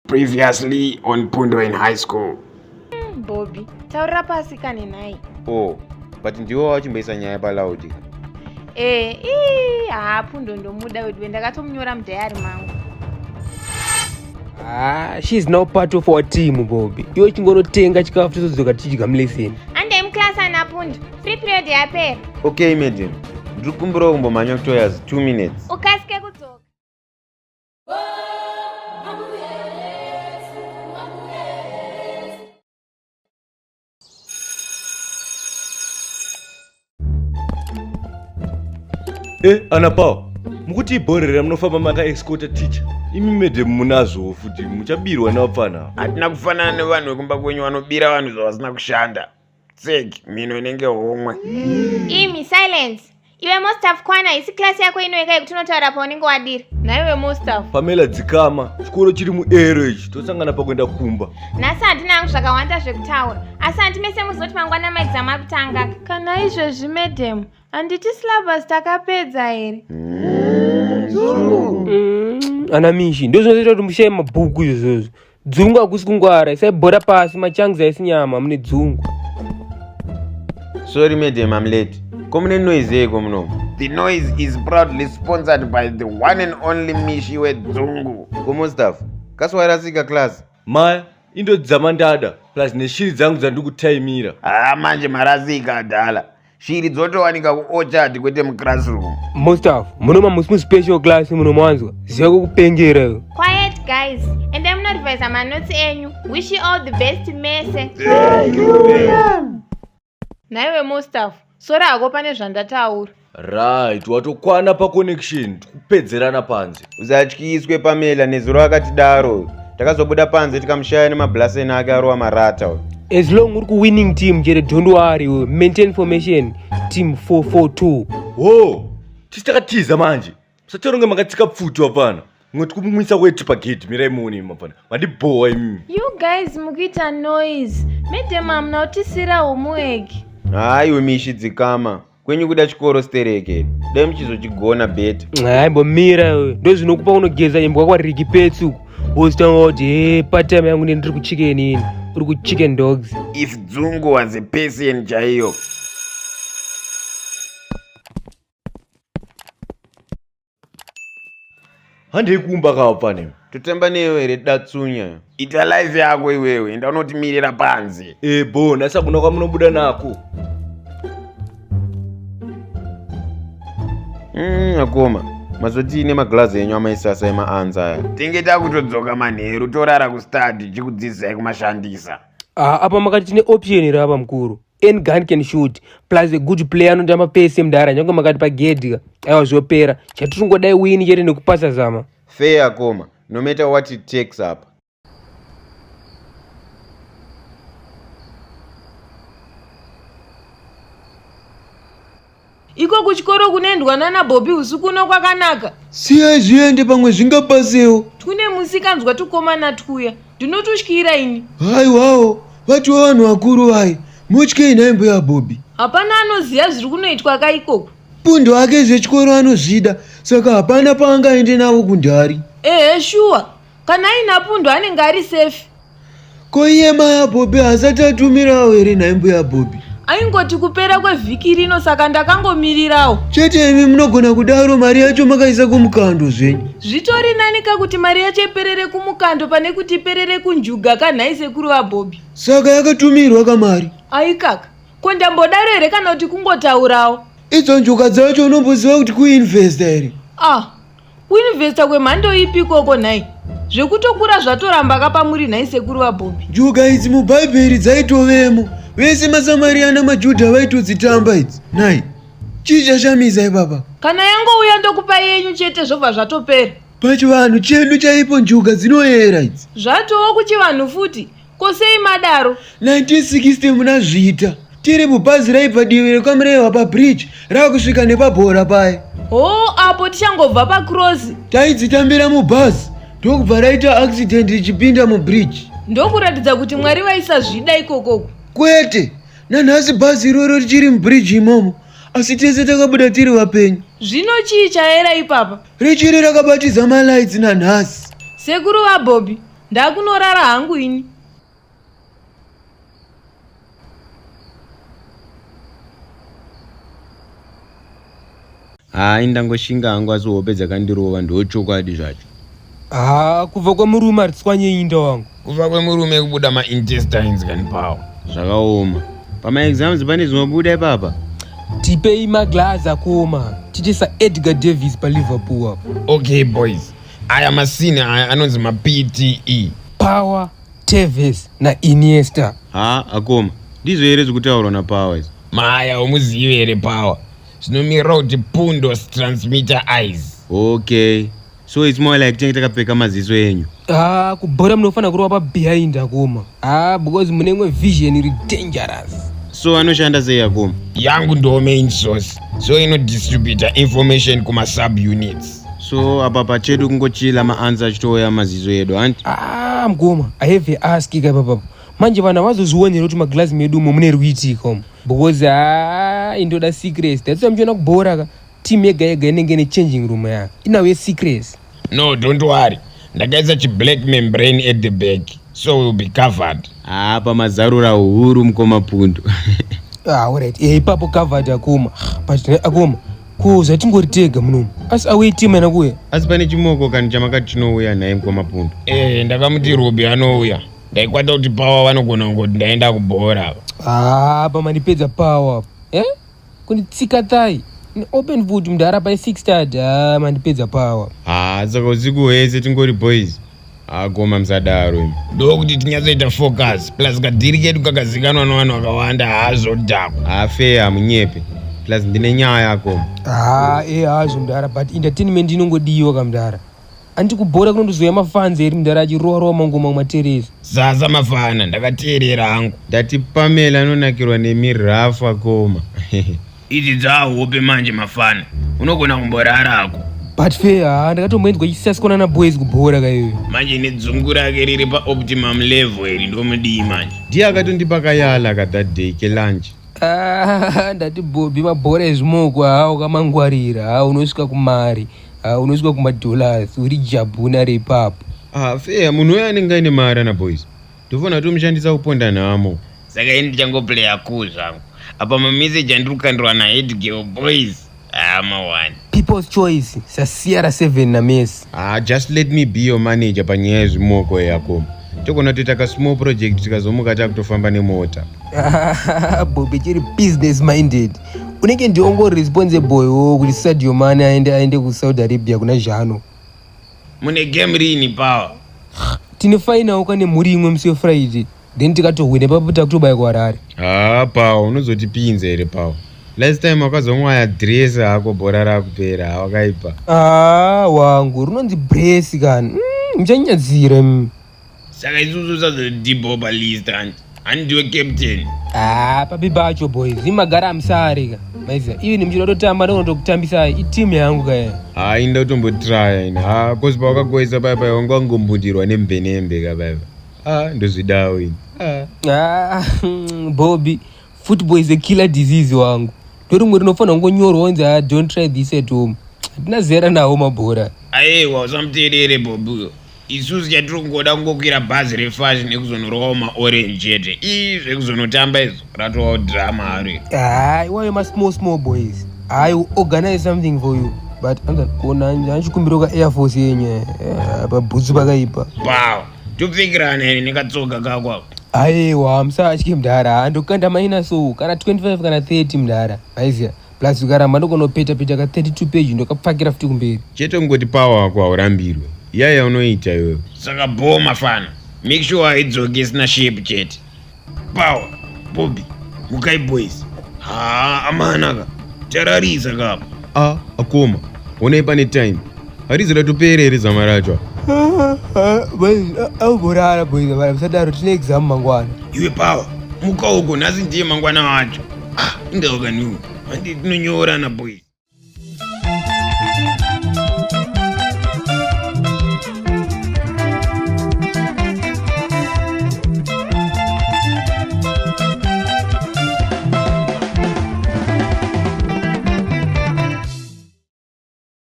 Previously on Pundo in high school. Hmm, Bobby, taurira pasi kani nhai. Oh, but ndiwo wachimboisa nyaya palaudi. Eh, ii, haa Pundo ndomuda weduwe ndakatomunyora mudhayari mangu. Ah, she is now part of our team Bobby. Iwe chingonotenga chikafu tozodzoka tichidya muleseni. Andai muclass ana Pundo. Free period yapera. Okay, madam. Ndiri kumbirawo kumbomhanya kutoyazi 2 minutes. Ukasike kudzoka. Eh, ana Paul, mukuti ibhorera munofamba maka escort teacher. Imi madam munazvo futi muchabirwa nevapfana. Hatina kufanana nevanhu vekumba kwenyu vanobira vanhu zvavasina kushanda. tsek mhino inenge homwe imi silence iwe mostaf kwana isi klasi yako inoika yekuti unotaura paunenge wadira naiwe mostaf pamela dzikama chikoro chiri muero ichi tosangana pakuenda kumba nhasi handina hangu zvakawanda zvekutaura asi handi mese muzoti mangwana maexamu akutanga kana izvezvi madam handiti slabus takapedza here mm, ana mishi ndozvinozoita kuti mushaye mabhuku izvozvo Dzungu hakusi kungwara, isai bhora pasi, machangs haisi nyama, mune dzungu. Sorry madam, I'm late. Ko mune noise yeko muno? The noise is proudly sponsored by the one and only Mishi wedzungu. Komo staff, kaswairasika class. Maya, indo dzamandada plus neshiri dzangu dzandikutaimira. Ah, manje marasika adala. shiri dzotowanika kuochard kwete muclassroom mustaff munoma musi muspecial class munomanzwa ziva kukupengera iyo quiet guys and i'm not advise my notes enyu wish you all the best mese thank you ma'am naiwe mustaff sora hako pane zvandataura right watokwana paconnection tikupedzerana panze usatyiswe pamela nezuro akatidaro takazobuda panze tikamushaya nemabhlaseni ake arova marata as long uri kuwinning team jere don't worry maintain formation team 442 wo tisi takatiza manje musacharonge makatsika pfuti wapana ngoti kumumwisa weti pagedhi mirai muone mapana mandibhowa imimi you guys mukuita noise medem amuna kutisira homework hayi wemishi dzikama kwenyu kuda chikoro stereke dai muchizochigona beta aimbomira ndozvinokupa unogeza imbwa kwaririki petsu wozotanga kuti he patime yangu nendiri kuchicken ini uri kuchicken dogs if dzungu was a person chaiyo handei kumba kawo pane totemba newe here datsunya ita life yako iwewe enda unotimirira panze ebo nasa kuna kwamunobuda nako mm, akoma mazotii nemaglazi enyu amaisasa emaanza aya tinge takutodzoka manheru torara kustadi chikudzidzisai kumashandisa ah, apa makati tine option here apa mukuru any gun can shoot plus a good player anotamba pese mdara nyange makati pagedhi aiwa zvopera chatiringodai wini chete nekupasa zama fair akoma no matter what it takes apa iko kuchikoro kunoendwa nana bobi usiku uno kwakanaka siyai zviende pamwe zvingabasewo tune musikanzwa tukomana twuya ndinotutyira ini haiwawo vatiwo vanhu vakuru vaye motyei nhai mbuya bobi hapana anoziva zviri kunoitwa ka ikoko pundu ake zvechikoro anozvida saka hapana paangaende navo kundari ehe shuwa kana aina pundu anenge ari safe ko iye maya bhobi hasati atumirawo here nhai mbuya bhobi aingoti kupera kwevhiki rino saka ndakangomirirawo chete imi munogona kudaro mari yacho makaisa kumukando zvenyu zvitori nani ka kuti mari yacho iperere kumukando pane kuti iperere kunjuga ka nhai sekuru vabhobi saka yakatumirwa kamari aikaka ko ndambodaro here kana kuti kungotaurawo idzo njuga dzacho unomboziva kuti kuinvesta here ah kuinvesta kwemhando ipi ikoko nhai zvekutokura zvatoramba kapamuri nhai sekuru vabhombi njuga idzi mubhaibheri dzaitovemo vese masamariyana majudha vaitodzitamba idzi nhai chii chashamisa ipapa kana yangouya ndokupa yenyu chete zvobva zvatopera pachivanhu chedu chaipo njuga dzinoyera idzi zvatoo kuchivanhu futi ko sei madaro 1960 muna zvita tiri mubhazi raibva divi rekwamrewa pabridge rava kusvika nepabhora paye hoo apo tichangobva pacross taidzitambira mubhazi ndokubva raita accident richipinda mubridge ndokuratidza kuti mwari vaisazvida ikokoko kwete nanhasi bhazi iroro richiri mubridge imomo asi tese takabuda tiri vapenyu zvino chii chaera ipapa richiri rakabatiza malights nanhasi sekuru vabobi Ndakunorara hangu ini. Hayi ndangoshinga hangu asi hope dzakandirova ndochokwadi zvacho. Haa kubva kwemurume haritswanye inda wangu. Kubva kwemurume kubuda maintestines kani pawo. Zvakaoma. Pamaexams pane zvinobuda ipapa. Tipei maglazi akuoma tichisa Edgar Davis paliverpool apo. Okay boys. aya masini aya anonzi mapte power teves nainiesta haa akoma ndizvo here zvekutaurwa napower izvo maya umuzive here power zvinomirira kuti pundos transmitter eyes okay so its more like tinenge takapfeka maziso enyu haa kubhora munofanira kurova pabehind akoma ah because mune imwe vision iri dangerous so anoshanda sei yakoma yangu ndo main source so inodistributa information kumasub units so apa pachedu kungochila maansa achitouya mazizo edu hanti ah mkoma i have a ask ka ipapapo manje vanhu havazozvionere kuti maglazi medu umo mune rwiti ikomo because ah indoda secrets that's why muchiona kubhora ka Team yega yega inenge ine changing room ya inawe secrets. No, don't worry. Ndakaisa chi black membrane at the back so we'll be covered. Ah, pamazarura huru mkoma pundu. ah, alright. Eh, ipapo covered akoma. But eh, akoma ko zvatingori tega munomu asi auye team yana kuuya asi pane chimoko kani chamakati chinouya naye mkoma pundu. Eh, ndakamuti Ruby anouya. Ndaikwata kuti power vanogona kungoti ndaenda kubhora apa. Ah, pamandipedza power. Eh? kunditsika thai open food mdara by 6 tad ah, mandipedza power haa ah, saka usiku hwese tingori boys agoma ah, musadaro imi ndokuti tinyatsoita focus plus kadhiri kedu kakazikanwa navanhu vakawanda haazodhakwa hafee hamunyepe plus ndine nyaya akoma haa e hazvo mdara but entertainment inongodiwa kamdara Anti kubhora kunondozouya mafans eri mdara achirowa rowa mangoma matereri. Zaza mafana ndakateerera hangu. Ndati Pamela anonakirwa nemi rough akoma. Idzi dzahope manje mafana. Unogona kumborara hako. But fair haa ndakatomboinzwa chisasikona na boys kubhora kaiwe. Manje nedzungu rake riri pa optimum level iri ndomudii manje. Ndiye akatondipa kayala ka that day ke lunch. Ah ndati Bobby mabhora ezvimoko haa ukamangwarira haa unosvika kumari. Ah, unosvika kumadollars uri jabhuna repapo ah, fea munhu uyo anenge aine maarana boys tofanira tomushandisa kuponda nhamo saka ini ndichangoplaya cool zvangu apa mameseji andiri kukandirwa nahedgeo boys hama ah, one people's choice sasiyara 7 namesi ah, just let me be your manager panyaya yezvimoko yako togona toita kasmall project tikazomuka takutofamba nemota bobe chiri business minded unenge ndiwo ngo responsible wo kuti sadio mane aende aende kusaudi arabia kuna zhano mune game rini power tine fainawo kane mhuri imwe musi wefriday then tikatohwine papo takutobaya kuharare haa pawa unozotipinza here pawa last time wakazomwaya dress hako bhora rakupera hawakaipa haa wangu rinonzi bresi kani mm, muchanyadzira mm, saka isusu sazodibho palist hanti handiwe captain ah papi pacho boys imagara amusarika maiziva ivi nemuchida totamba ndonotokutambisai iteam yangu kaye haa inda utombotraya ini haa kozi pawakagoisa paya paya wanga wangombundirwa nembenembe ka paya haa ndozvidawo ini haa ah, bobi football is a killer disease wangu ndorimwe rinofanira kungonyorwa onzi ah, don't try this at home hatina zera nawo mabhora ayewa usamuteerere bobi uyo isusu chatiri kungoda kungokwira bhazi refashi nekuzonorwawo maorange chete ii zvekuzonotamba izvo ratovawo drama haro haa iwayo masmall small boys i will organize something for you but anzanchikumbira ka air force yenye eh, pabhutsu pakaipa wow topfekirana ene nekatsoga kako ako aiwa musatye mdhara andokanda maina so kana 25 kana 30 mdhara aiziya plus ukaramba ndokonopeta peta ka 32 page ndokapfakira futi kumberi chete kungoti pawa wako haurambirwe iya yaunoita iwewe saka bhoo mafana make sure haidzoki isina shape chete pawa bobi mukai boys haa amanaka tararisa kapa a akoma honai pane time Harizi ratopera here zama racho? Auborara boiza vana musadaro tine exam mangwana. Iwe power muka uko nhasi ndiye mangwana wacho. Ah, ingaoka niwo. Handi tinonyorana boiza.